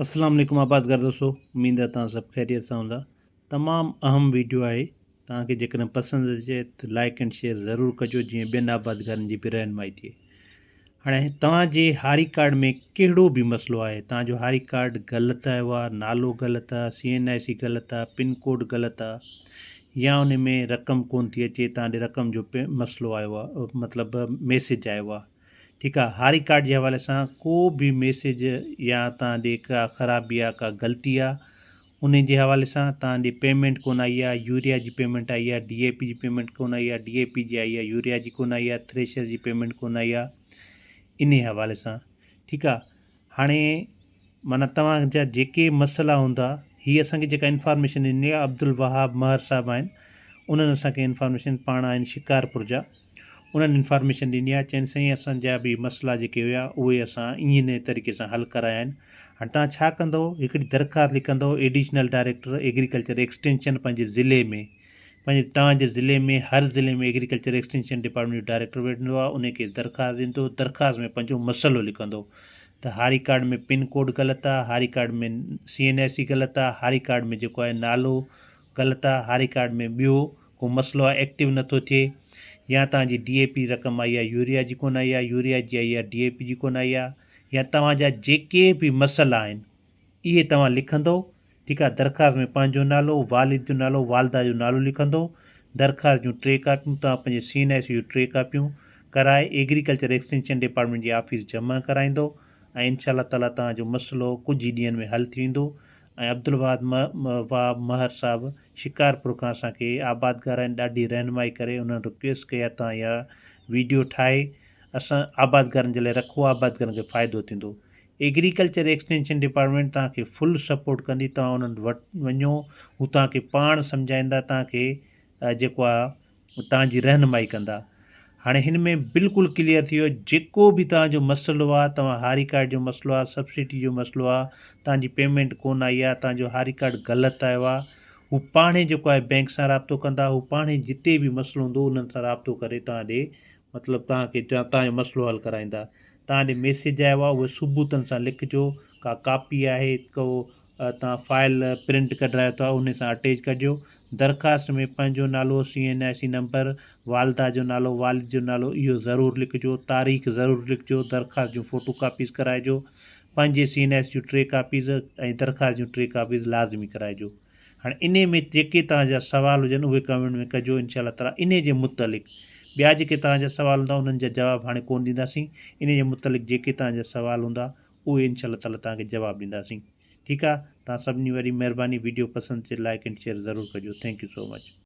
اسلام عليڪم آبادگار دوستو اميد آ توهان سڀ خيريت سان هوندا تمام اهم ويڊيو آهي توهان کي جيڪڏهن پسند اچي ته لائڪ اينڊ شيئر ضرور ڪجو جيئن ٻين آبادگارن جي به رهنمائي ٿئي هاڻي توهان جي هاري ڪارڊ ۾ ڪهڙو به مسئلو آهي توهان جو هاري ڪارڊ غلط آيو آهي نالو غلط آهي سي اين آء سي غلط آهي پن ڪوڊ غلط آهي يا ان ۾ رقم ڪون ٿي اچي توهان ڏي رقم جو مسئلو آيو آهي مطلب ميسج آيو آهي ٺيڪ آ هاري ڪارڊ جي حوالي سان ڪو به ميسيج يا تان ڏي ڪا خرابي آ ڪا غلطي آ انهي جي حوالي سان تان ڏي پيمينٽ ڪون آئي آ يوريا جي پيمينٽ آئي آ ڊي اي پي جي پيمينٽ ڪون آئي آ ڊي اي پي جي آئي آ يوريا جي ڪون آئي آ ٿريشر جي پيمينٽ ڪون آئي آ انهي حوالي سان ٺيڪ آ هاڻي معنيٰ توهان جا جيڪي مسئلا هوندا هي اسان کي جيڪا انفارميشن ڏني آهي عبدالوهاب مهر صاحب آهن انهن اسان کي انفارميشن پاڻ آهن شڪارپور جا انهن انفارميشن ڏني آهي چين سائين اسان جا به مسئلا جيڪي هيا اهي اسان ايئن نئين طريقي سان حل ڪرايا آهن هاڻي تان ڇا ڪندو هڪڙي درخواست لکندو ايڊيشنل ڊائريڪٽر ايگريڪلچر ايڪسٽينشن پنهنجي ضلعي ۾ پنهنجي توهان جي ضلعي ۾ هر ضلعي ۾ ايگريڪلچر ايڪسٽينشن ڊپارٽمينٽ جو ڊائريڪٽر ويهندو آهي انهي کي درخواست ڏيندو درخواست ۾ پنهنجو مسئلو لکندو ته هاري ڪارڊ ۾ پن ڪوڊ غلط آهي هاري card ۾ C N I C غلط آهي هاري ڪارڊ ۾ جيڪو آهي نالو غلط آهي هاري ڪارڊ ۾ ٻيو ڪو مسئلو آهي ايڪٽو نٿو ٿئي يا توهان جي ڊي اي پي رقم آئي آهي يوريا جي ڪونه آئي آهي يوريا جي آئي آهي ڊي اي پي جي ڪونه آئي آهي يا توهان جا جيڪي به مسئلا آهن اهي توهان لکندو ٺيڪ آهي درخواست ۾ پنهنجو نالو، والد جو نالو، والده جو نالو لکندو. درخواست جون ٽي ڪاپيون توهان پنهنجي سي اين آء سي جون ٽي ڪاپيون ڪرائي ايگريڪلچر ايڪسٽينشن ڊپارٽمينٽ جي آفيس جمع ڪرائيندو ۽ انشاء الله تعاليٰ توهان جو مسئلو ڪجهه ئي ڏينهن ۾ حل ٿي ويندو ۽ عبدالوهاد وهاب مهر صاحب شڪارپور کان اسان کي آبادگار آهن ڏاڍي رهنمائي ڪري انهن رڪويسٽ ڪئي آهي توهان اها ويڊيو ٺاهي اسان آبادگارن جي لاء رکو آبادگارن کي فائدو ٿيندو ايگريڪلچر ايڪسٽينشن ڊپارٽمينٽ توهان کي فل سپورٽ ڪندي توهان انهن وٽ وڃو هو توهان کي پاڻ سمجهائيندا توهان کي جيڪو آ توهان جي رهنمائي ڪندا هاڻي هن ۾ بلڪل ڪليئر ٿي ويو جيڪو به توهان جو مسئلو آ توهان هاري ڪارڊ جو مسئلو آ سبسڊي جو مسئلو آ توهان جي پيمينٽ ڪون آئي آ توهان جو هاري ڪارڊ غلط آيو آ هو پاڻهي جيڪو آهي بينڪ سان رابطو ڪندا هو پاڻهي جتي به مسئلو هوندو انهن سان رابطو ڪري توهان ڏي مطلب توهان کي توهان جو مسئلو حل ڪرائيندا. توهان ڏي ميسيج آيو آهي اهي ثبوتن سان لکجو ڪا ڪاپي آهي ڪو توهان فائل پرنٽ ڪڍرايو ٿا انهي سان اٽيچ ڪجو درخواست ۾ پنهنجو نالو C N I C number والده جو نالو والد جو نالو اهو ضرور لکجو تاريخ ضرور لکجو درخواست جون فوٽو ڪاپيز ڪرائجو پنهنجي سي N I C June T copies ۽ درخواست جون ٽي ڪاپيز لازمي ڪرائجو. هاڻي انهي ۾ جيڪي توهان جا سوال هجن اهي ڪمينٽ ۾ ڪجو انشاء الله تعالي انهي جي متعلق ٻيا جيڪي توهان جا سوال هوندا انهن جا جواب هاڻي ڪون ڏينداسين انهي جي متعلق جيڪي توهان جا سوال هوندا اهي انشاء الله تعالي توهان کي جواب ڏينداسين ٺيڪ آ توهان سڀني واري مهرباني ويڊيو پسند اچي لائيڪ اينڊ شيئر ضرور ڪجو ٿينڪ يو سو مچ.